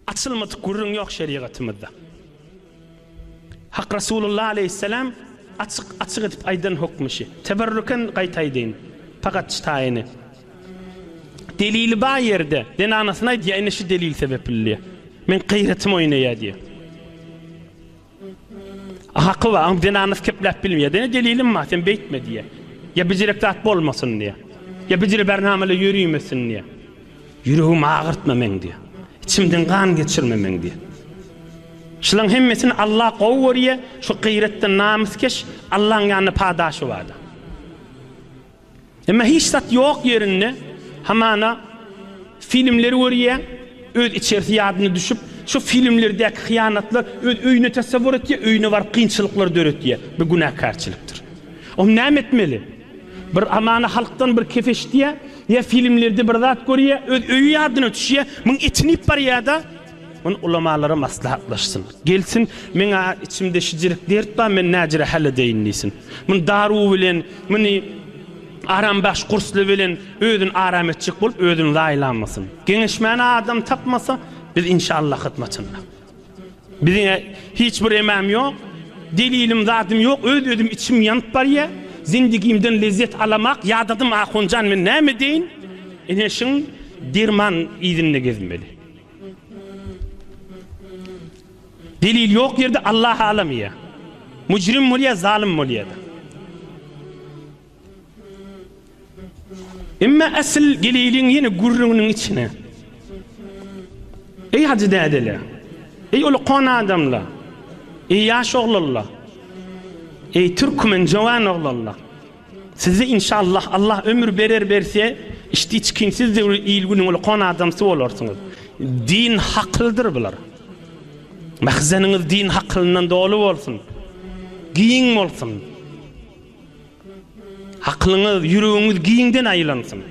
Açylmadyk gürrüň ýok şerigatymyzda. Hak Rasulullah aleýhisselam açyk açyk edip aýdan hukmy şi. Teberrüken gaýta aýdaýyn. Pagat çtaýyny. Delili bar ýerde zenanasyna aýdýar ine şi delil sebepli diýýär. Meň gyýratym oýnaýar diýýär. Haky bar, aň zenanasy kepläp bilmeýär. Diýende delilim bar, sen beýtme diýýär. Ýa bijirek zat bolmasyn diýýär. Ýa bijire bärnamala ýörimesin diýýär. Ýüregimi agyrtma meň diýýär. Içimden gan geçirme meň diýýär. Şulaň hemmesini Alla gowy görýär, şu gyýratdan namyskeş Allaň ýanynda padaşy bardyr. Emma hiç zat ýok ýerinde hamana filmleri görýär, öz içerisi ýadyna düşüp, şo filmlerdäki hyýanatlar öz öýüne tasawwur etýär, öýüne baryp kynçylyklar döretýär. Bu günäkärçilikdir. Onda näme etmeli? Bir hamana halkdan bir kep eşitýär, ýa filmlerde bir zat görýär, öz öýi ýadyna düşýär, muň etini iýip barýar-da, Muny ulamalara maslahatlaşsyn. Gelsin, men-ä içimde şijirik dert bar, men näjire häl edeýin diýsin. Muny daruw bilen, muny arambaş gursly bilen özüni aram etjek bolup, özüni zaýalamasyn. Geňeşmäne adam tapmasa, biz inşallah hyzmatynda. Biziň-ä hiç bir emäm ýok, delilim, zadym ýok, öz-özüm içim ýanyp barýa. Zindigimden lezzet alamak ýadadym ahunjan, men näme edeýin? Ene şiň derman yzynda gezmeli. Delil ýok ýerde Allah alam ýa mujrim bolýa zalym bolýada. Emma asl geliliň ýene gürrüňiniň içine. Eý hajy dädele. Eý ol kon adamla. Eý ýaş oglalla. Eý türkmen jowan oglalla. Sizi inşallah Allah ömür berer berse işdi çykyň siz de il günüň ulkan adamsy bolarsyňyz. Din hakylydyr bular. Mahzeniňiz din hakylyndan doly bolsun. Giň bolsun. Hakylyňyz, ýüregiňiz giňden aýlansyn.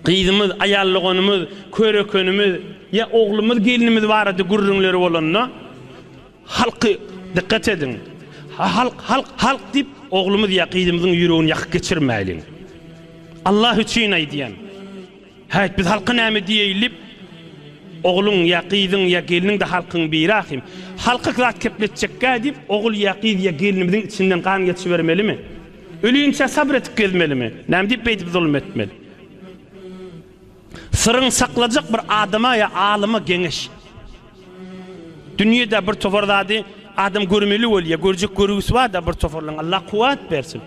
Gyzymyz, aýal doganymyz, körekenimiz ýa oglumyz, gelnimiz barada gürrüňleri bolanda, Halky dikkat ediň. Halk halk halk diyip oglumyz Yakynymyzyň yüregini yakyp geçirmeyliň. Allah üçin aydyan. Hayt biz halka name diyeyil diyip ogluň ya gyzyň ya gelniň de halkyň biri ahim. Halka zat kepletjekka diyip ogul ya gyz ya gelnimiziň içinden gan geçibermelimi? Ölüinçe sabr etip gezmelimi? Name diyip beydip zulum etmeli? Syryň saklajak bir adama ýa alyma geňeş. Dünýede bir topar zady adam görmeli bolýa, görjek görgüsi barda bir toparlaň Allah kuwwat bersin.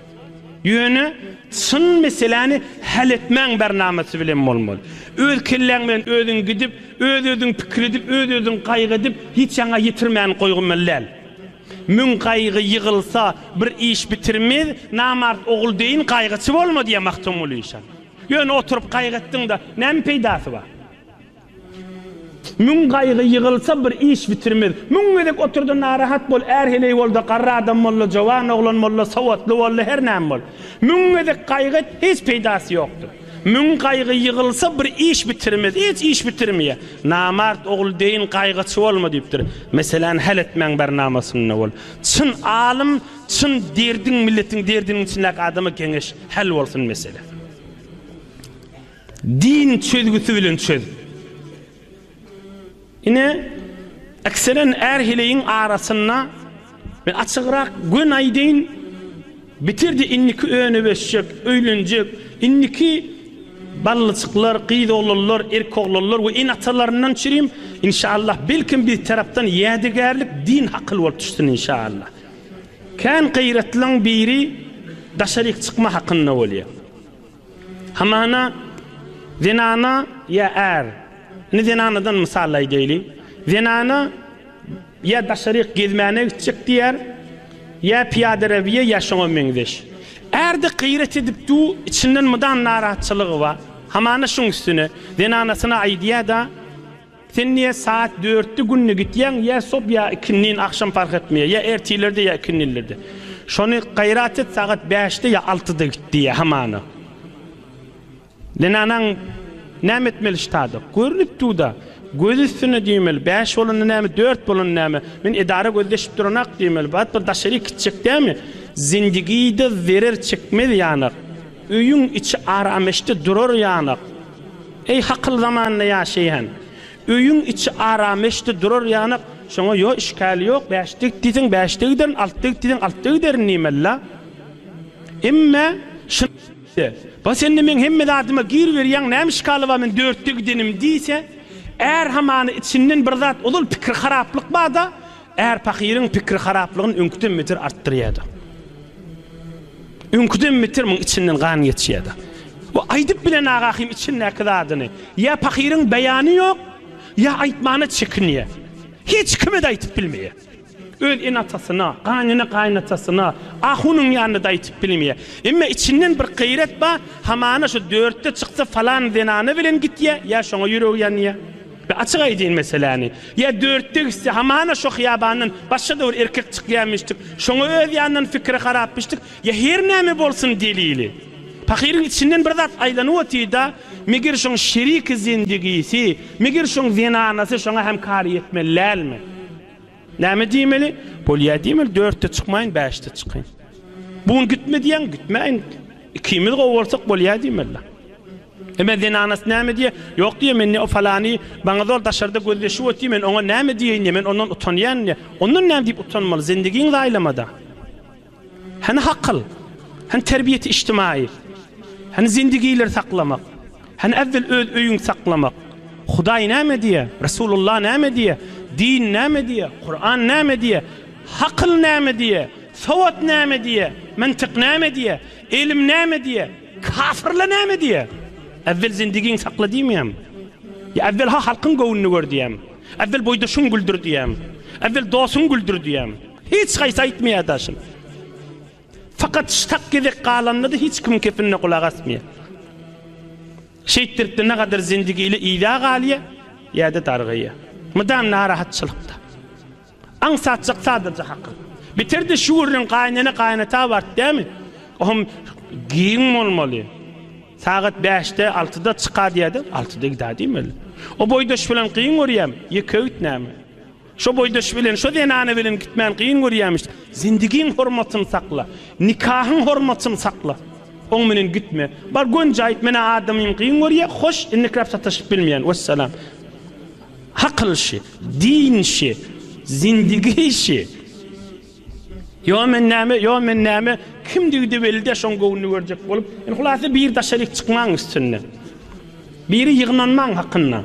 Ýöne çyn meseläni häl etmäň bernamasy bilen bolmaly. Öz kelläň bilen özüň gidip, öz özüň pikir edip, öz özüň gaýgy edip hiç ýaňa ýetirmäni goýgymyly däl. Müň gaýgy ýygylsa bir iş bitirmez, namart ogul deýin gaýgyçy bolma diýýär Magtymguly şa. Ýöne oturyp gaýgy etdiň-de, näme peýdasy bar? Müň gaýgy ýygylsa, bir iş bitirmez. Müň gezek otur-da narahat bol, är heleý bol-da, garry adam bol-da, jowan oglan bol-da, sowatly bol-da, her näme bol. Müň gezek gaýgy et, hiç peýdasy ýokdur. Müň gaýgy ýygylsa, bir iş bitirmez. Hiç iş bitirmeýär. Namart ogul deýin gaýgyçy bolma diýipdir. Meseläni häl etmäň bernamasynda bol. Çyn alym Çyn derdiň milletiň derdiniň içindäki adama geňeş häl bolsun mesele. Din çözgüsi bilen çöz. Ine ekseren är heleýiň arasynda men açygrak gön aýdaýyn bitirdi indiki öne beşjek öýlenjek indiki ballyjyklar gyz oglanlar erk oglanlar we en atalaryndan çirim inşallah belkim bir tarapdan ýädegärlik din hakyl bolup düşsün inşallah. Kän gyratlyň biri daşaryk çykma hakynda bolýar. Hamana zenana ýa är, indi zenanadan mysal aýdaýly, zenana ýa daşaryk gezmäne gitjek diýer, ýa pyýadarabiýa ýa şoňa meňzeş. Ärde gyrat edip du, içinden mydam narahatçylygy bar. Hamana şuň üstüne zenanasyna aýdýar-da. Sen niye saat dörtde günde gitýäň ýa sob ýa ikindin agşam fark etmeýär ýa ertirlerde ýa ikindinlerde şony gaýrat et sagat bäşde ýa altyda git diýýä hamana zenanaň näme etmeli ştada görünip duda göz üstünde diýmeli bäş bolanda näme dört bolanda näme men edara gözleşip duranak diýmeli bat bir daşaryk gitjek dämi zindigide zerer çekmez ýanak. Öýüň içi arameşde durar ýanak. Eý, hakyl zamanynda ýaşaýan. Öýüň içi arameşde durar ýanak. Şoňa ýo işgäl ýok, bäşde git diýseň, bäşde giderin, altda git diýseň, altda giderin diýmeli-la. Emme, şyn-de, ba sen-de meň hemme zadyma gir berýäň, näme işgaly bar men dörtde gidenim diýse, är hamany içinden bir zat ozal pikir haraplyk bar-da, Är pahyryň pikiri haraplygyny öňküden beter artdyrýardy. Öňküden beter muň içinden gan geçýärdi. Bu aýdyp bilen Agahym içindäki zadyny. Ýa pahyryň beýany ýok, ýa aýtmana çekinýär. Hiç kime-de aýtyp bilmeýär. Öz ene-atasyna, gaýnene-gaýynatasyna, ahunyň ýanynda-da aýtyp bilmeýär. Emma içinden bir gaýrat bar, hamana şu dörtde çyksa falan zenana bilen gitýär, ýa şoňa ýüregi ýanýar. Be açyk aýdyn meseläni. Ýa dörtde gitse hamana şo hyýabandan başga-da bir erkek çykýamyşdyk, şoňa öz ýanyndan pikiri harapmyşdyk, ýa her näme bolsun delili. Pahyryň içinden bir zat aýlanyp otyrda, meger şoň şeriki zendigisi, meger şoň zenanasy şoňa hem kary ýetmeli dälmi? Näme diýmeli? Bolýa diýmeli, dörtde çykmaýyn, bäşde çykyň. Bu gün gitme diýäň, gitmäýin. Ikimiz gowy bolsak bolýa diýmeli. Emma zenanasy näme diýer? Ýok diýer, men o falany maňa zor daşarda gözleşip otyr, men oňa näme diýeýin-de, men ondan utanýan-da. Ondan näme diýip utanmaly, zendigiňi zaýlama-da. Hany hakyl? Hany terbiýeti içtimaýy? Hany zendigileri saklamak? Hany äwwel öz öýüňi saklamak? Hudaý näme diýýär? Resulullah näme diýýär? Din näme diýýär? Kuran näme diýýär? Hakyl näme diýýär? Sowat näme diýýär? Myntyk näme diýýär? Ylym näme diýýär? Kafirler näme diýýär? Äwwel zendigiňi sakla diýmeýärmi? Ýa äwwel-ha halkyň göwnüni gör diýýärmi? Äwwel boýdaşyňy güldür diýýärmi? Äwwel dostuňy güldür diýýärmi? Hiç haýsy aýtmaýar daşym. Fakat ştak gezek galanynda-da hiç kimiň kepinine gulak asmaýar. Şeýtdirip-de nagadyr zindigi ili yza galýar, ýa-da dargaýar. Mydam narahatçylykda. Aňsatjak sadyrja hakyl. Bitirdi şu gürrüň gaýnene-gaýynata bart dämi? O hem giň bolmaly. Sagat bäşde, altyda çyka diýädi, altyda gidä diýmeli. O boýdaş bilen gyň görýämi? Ýeke öýt näme? Şo boýdaş bilen, şo zenana bilen gitmäni kyn görýämiş. Zindigiň hormatyny sakla. Nikahyň hormatyny sakla. Oň bilen gitme. Bar gönje aýt, men-ä adamym kyn görýä, hoş, indikräp sataşyp bilmeýän. Wessalam. Akyl işi, din işi, zindigi işi. Ýo men näme, ýo men näme, kimdigi-de belli däl, şoň göwnüni görjek bolup. Indi hulasa bir daşaryk çykmaň üstünde. Biri ýygnanmaň hakynda.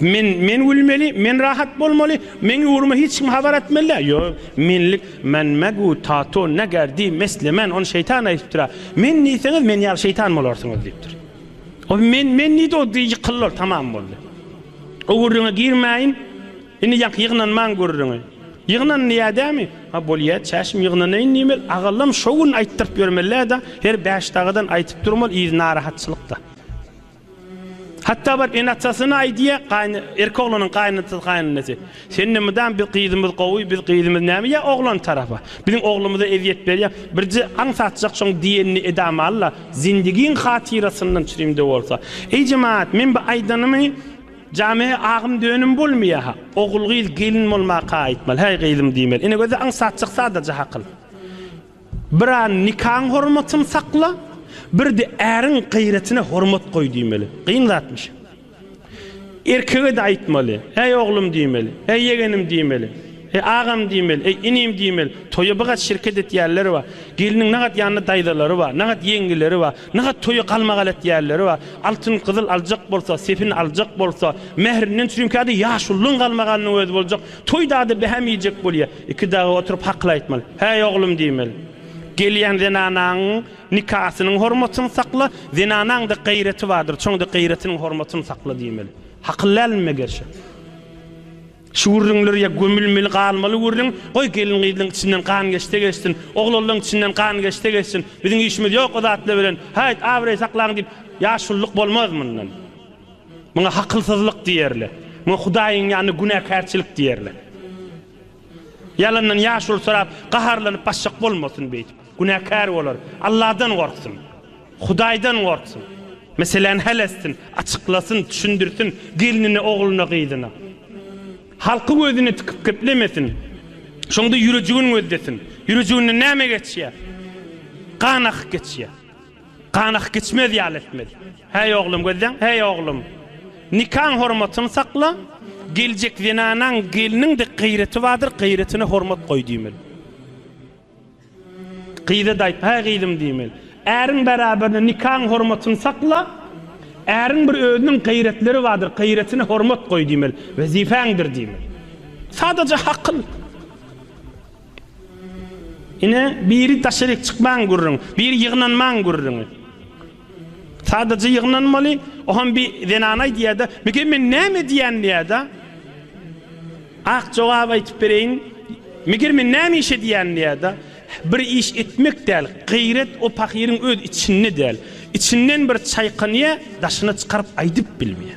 Men men gülmeli, men rahat bolmaly, meň ugruma hiç kim habar atmaly däl. Ýok, menlik men megu tato neger di meslemen, ony şeýtan aýdypdyra. Men diýseňiz, men ýaly şeýtan bolarsyňyz diýipdir. O men men diýdi, o di ýykyldylar, tamam boldy. O gürrüňe girmäýin. Indi ýaňky ýygnanmaň gürrüňi. Ýygnan diýädämi? Ha bolýa, çäşim ýygnanaýyn diýmeli. Agallam şo gün aýtdyryp ýörmeli-dä, her bäş dagadan aýdyp durmaly, yz narahatçylyk-da. Hatda baryp ene-atasyna aýdýar, gaýny, erkek oglanyň gaýynatasy, gaýynenesi, Sen-de mydam biz gyzymyz gowy, biz gyzymyz näme ýa oglan tarapa? Biziň oglumyza ezýet berýäň, birje aň satjak şoň diýenini edäm al-la, zindigiň hatyrasyndan çürim-de bolsa. Eý jemagat, men bu aýdanymy jame agym dönem bolmaýa-ha. Ogul-gyz gelin bolmaka aýtmaly, häý gyzym diýmeli. Ene gözi aň satjak sadaja hakyl. Bir an nikaň hormatyny sakla, bir-de äriň gaýratyna hormat goý diýmeli. Kyn zatmyş. Erkege-de aýtmaly. Äý oglum diýmeli. Äý ýegenim diýmeli. Äý agam diýmeli. Äý inim diýmeli. Toýa bigat şirket etýänler bar. Gelniň nagat ýanynda daýzalary bar, nagat ýeňňeleri bar. Nagat toýa galmagal etýänleri bar. Altyn-gyzyl aljak bolsa, sepin aljak bolsa, mährinden çürimkä-de ýaşulynyň galmagalynyň özi boljak. Toýda-da bähäm iýjek bolýar. Iki dagy oturyp hakyl aýtmaly. Häý, oglum diýmeli. Gelýän zenanaň nikasynyň hormatyny sakla, zenanaň-da gaýraty bardyr, şoň-da gaýratynyň hormatyny sakla diýmeli. Hakyl dälmi megerşe? Şu gürrüňler ýa gömülmeli galmaly gürrüň, goý gelin-gyzlaň içinden gan geçse geçsin, oglanlaň içinden gan geçse geçsin, biziň işimiz ýok o zatlar bilen, haýt, abraý saklaň diýip, ýaşulylyk bolmaz mundan. Muňa hakylsyzlyk diýerler. Muňa Hudaýyň ýanynda günäkärçilik diýerler. Ýalandan ýaşuly sorap, gaharlanyp başjak bolmasyn beýdip. Günäkär bolar. Alladan gorksun. Hudaýdan gorksun. Meseläni häl etsin, açyklasyn, düşündirsin gelnine, ogluna, gyzyna. Halky gözüne tikip geplemesin. Şonda ýürejigin gözlesin. Ýürejiginden näme geçýär? Gan akyp geçýär. Ganak geçmez ýaly etmez. Häý oglum, gözleň, häý oglum! Nikaň hormatyny sakla, geljek zenanaň, gelniň dek gyreti bardyr, gyretine hormat goý diýmeli. Gyza-da aýt, häý gyzym diýmeli. Äriň bäraberinde nikaň hormatyny sakla, äriň bir özüniň gyretleri bardyr, gyretine hormat goý diýmeli, wezipäňdir diýmeli. Sadaja hakyl. Ine, biri daşaryk çykmaň gürrüň, biri ýygnanmaň gürrüňi. Sadaja ýygnanmaly, oham bir zenan aýdýa-da, Mike, men näme edýän diýä-da. Ak jogaby aýtyp bereýin, Mike, men näme iş edýän diýä-da. Bir iş etmek däl, gaýrat o pahyryň öz içinde däl. Içinden bir çaýkanýa, daşyna çykaryp aýdyp bilmeýä.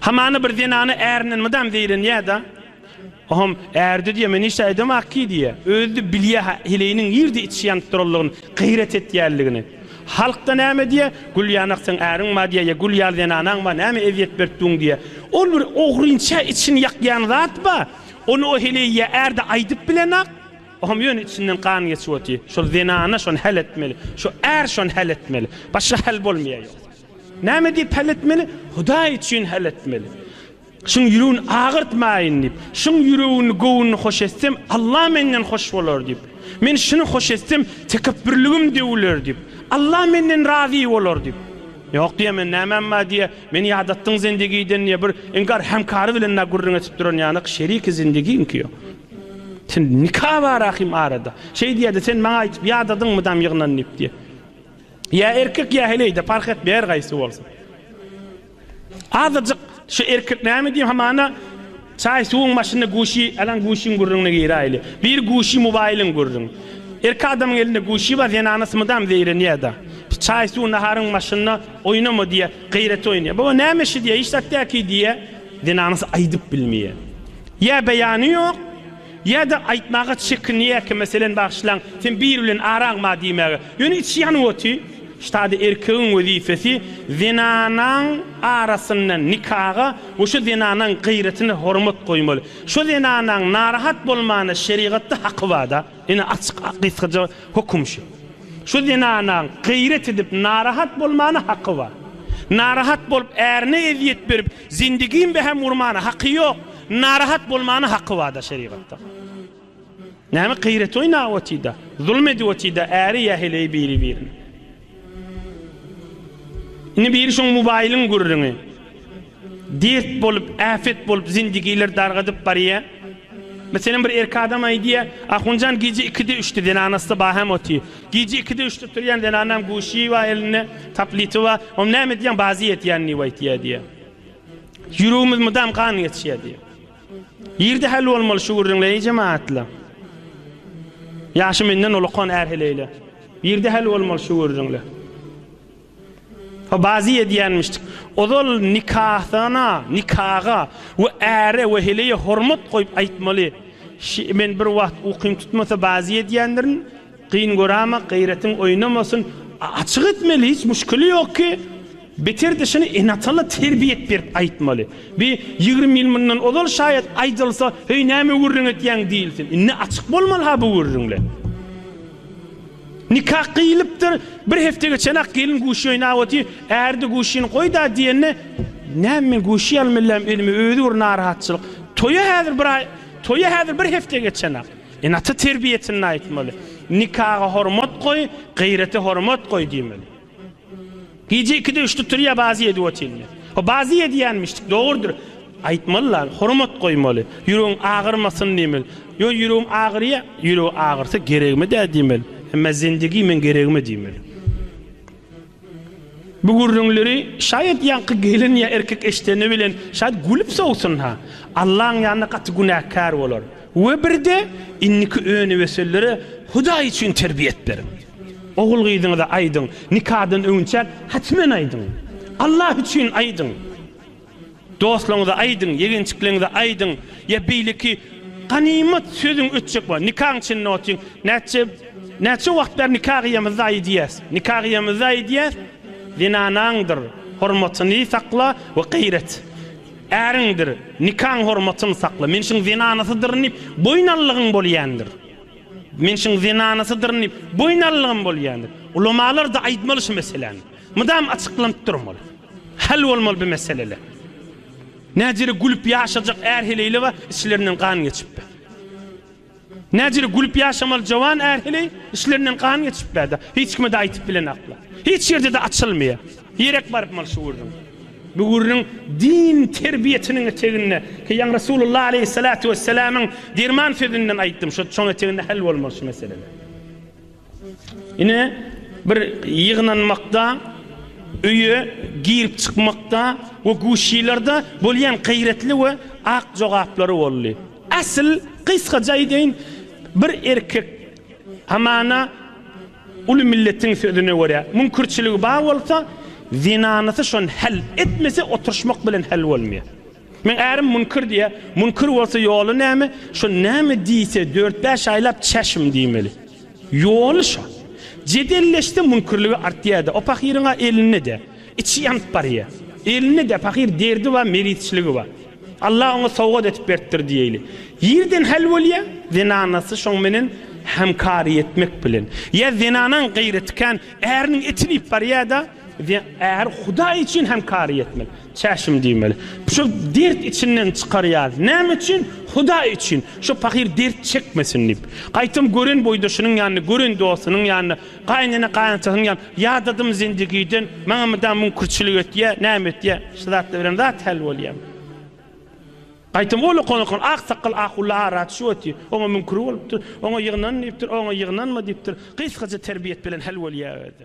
Hamana bir zenana ärinden mydam zeýrenýä-de, Ohom, ärde diýýä, men hiç aýdamak ki diýýä. Özi-de bilýä heleýiniň nirde içi ýanyp duranlygyny, gyýrat etýänligini. Halk-da näme diýýä, Gül ýanak seň äriň bar diýýä, ýa gül ýaly zenanaň bar, näme ezýet berip duň diýýä. Ol bir ogrynça içini ýakýan zat bar, ony o heleý ýa ärde aýdyp bilenok, Ohom, ýöne içinden gan geçip otyr. Şol zenana şony häl etmeli, şu är şony häl etmeli. Başga häl bolmaýar ýogsa. Näme diýip hal etmeli? Hudaý üçin hal etmeli. Şuň ýüregini agyrtmaýyn diýip. Şuň ýüregini, göwnüni hoş etsem, Alla menden hoş bolar diýip. Men şuny hoş etsem, tekepbürligim döwüler diýip. Alla menden razy bolar diýip. Ýok diýýä, men nämäm bar diýýä. Meni ýadatdyň zendegiden diýýä. Bir inkar hemkary bilen dagy gürrüň etip duran ýanak, şeriki zendegiňki ýok. Sen nika bar ahim arada. Şeý diýýä-de, sen maňa aýdyp ýadadyňmy dam ýygnan diýip diýýä. Ýa erkek ýa heleýde parh etmeýär her gaýsy bolsa. Azajyk şu erkek näme diýip hamana çaý suwuň başynda guşi alan guşiň gürrüňine giräýli. Bir guşi mobaýlyň gürrüň. Erkek adamyň elinde guşi bar zenanasy mydam zeýrenýärda. Çaý suw naharyň başynda oýnama diýýär. Gaýrat oýnaýar. Baba näme işi diýýär hiç zat däki diýýär. Zenanasy aýdyp bilmeýär. Ýa beýany ýok. Ýa-da aýtmaga çekinýärkä, meselem, Bagyşlaň, sen biri bilen araň bar diýmäge. Ýöne içi ýanyp otyr. Ştada erkegiň wezipesi zenanaň arasynda nikaga we şo zenanaň gyýratyna hormat goýmaly. Şo zenanaň narahat bolmana şerigatda haky bar-da. Ine açyk gysgaja höküm şu. Şo zenanaň gyýrat edip narahat bolmana haky bar. Narahat bolup ärine ezýet berip, Zindigim behem urmana haky yok, narahat bolmana haky bada şerigatda. Name gyrat oynap otida, zulm edip otida äri ya heleyi biri birine. Indi biri şoň mubailiň gurriňi. Dert bolup, äfet bolup zindigiler dargadyp barya. Meselem bir erki adam aydya, Ahunjan gije ikide üçde zenanasda baham otyr. Gije ikide üçde turýan zenanam guşy bar elinde, tableti bar. Ony näme edýäň, bazy ýetýän diýip aýtýar diýýär. Ýüregimiz mydam gan geçýär diýýär. Ýerde häl bolmaly şu gürrüňler, eý jemagatlar. Ýaşy menden ulakan är heleýler. Ýerde häl bolmaly şu gürrüňler. Bazy edýänmişdik. Ozal nikasana, nikaga we äre we heleýe hormat goýup aýtmaly. Ş, Men bir wagt ukym tutmasa bazy edýändirin. Gyn göräma, gaýratyň oýnamasyn. A, Açyk etmeli, hiç muşkili ýok ki. Beter-de şuny ene-atana terbiýet berip aýtmaly. Bi ýigrimi ýyl mundan ozal şaýat aýdylsa, Heý, näme gürrüň etýäň diýilsin. Indi açyk bolmaly-ha bu gürrüňler. Nika gyýylypdyr, bir hepde geçenak gelin guşy oýnap otyr, ärde guşyny goýda diýende, Näme men guşy ýaly mellem özüme özi bir narahatçylyk. Toýa häzir bir aý, toýa häzir bir hepde geçenak. Ene-ata terbiýesinde aýtmaly. Nikaga hormat goý, gyrete hormat goý diýmeli. Gije ikide üçde turýa bazy edip otyrmy? O bazy edýänmişdik, dogrudyr. Aýtmaly lan, hormat goýmaly. Ýüregiň agyrmasyn diýmeli. Ýöne ýüregim agyrýa, ýüregi agyrsa geregimi dä diýmeli. Emma zindigi men geregimi diýmeli. Bu gürrüňleri şaýat ýaňky gelin ýa erkek eşdeni bilen şaýat gülüp sowsun-ha. Allaň ýanynda gaty günäkär bolar. We birde indiki öňüwesellere Hudaý üçin terbiýet beriň. Ogul-gyzyňyza aýdyň, nikadan öňünçäk hatmen aýdyň. Allah üçin aýdyň. Dostlaryňyza aýdyň, ýegençikleňize aýdyň. Ýa beýleki ganymat sözüň ötjek bolsa, nikaň içinde otyň. Näçe näçe wagt bäri nika gyýamyzda aýdýas. Nika gyýamyzda aýdýas, Zenanaňdyr hormatyny sakla we gaýrat. Äriňdir nikaň hormatyny sakla. Men şuň zenanasydyryn diýip, boýun allygyň bolýandyr. Men şuň zenanasydyryn diýip, boýun alylygym bolýandyr. Ulamalar-da aýtmaly şu meseläni. Mydam açyklanyp durmaly. Hal bolmaly bu meseleler. Näjere gülüp ýaşajak är-heleýle bar, içlerinden gan geçip bar. Näjere gülüp ýaşamaly jowan är-heleý, içlerinden gan geçip bar-da, hiç kime-de aýtyp bilenaklar. Hiç ýerde-de açylmaýar. Direk baryp mal şugurdyň. Bu gürrüň din terbiýesiniň eteginde, ki ýaňy Resulullah aleýhissalatu wesselamyň derman sözünden aýtdym, şo şoň eteginde hal bolmaly şu meseleler. Ine, bir ýygnanmakda, öýe girip çykmakda we guşilerde bolýan gaýratly we ak jogaplary boldy. Asyl, gysgaja aýdaýyn, bir erkek hamana, Uly milletiň sözüne görä, müňkürçiligi bar bolsa, zenanysy şony häl etmese, oturyşmak bilen häl bolmaýar. Meň ärim müňkür diýýär. Müňkür bolsa ýoly näme? Şo näme diýse, dört-bäş aýlap çäşim diýmeli. Ýoly şo. Jedelleşse müňkürligi artýar-da. O pahyryň-a elinde-de. Içi ýanyp barýar. Elinde-de pahyr derdi bar, merizçiligi bar. Allah oňa sowgat edip beripdir diýeýli. Ýerden häl bolýar, zenanasy şoň menen hämkary etmek bilen. Ýa zenanaň gaýraty kän, äriniň etini iýip barýar-da, äri Hudaý üçin hämkary etmeli. Çäşim diýmeli. Şo dert içinden çykarýar. Näme üçin? Hudaý üçin. Şo pahyr dert çekmesin diýip. Gaýtam gören boýdaşynyň ýanynda, gören dostunyň ýanynda. Gaýynene gaýynatasyny ýa ýadadym zindigiden maňa mydam müňkürçilik etýä näme etýä şu zatda bilen zat häl bolýam. Gaýtam ol okan-okan aksakgal ahulla ara düşüp otyr. Oňa müňkür bolupdyr, oňa ýygnan diýipdir, oňa ýygnanma diýipdir. Gysgaja terbiýet bilen häl bolýa özi.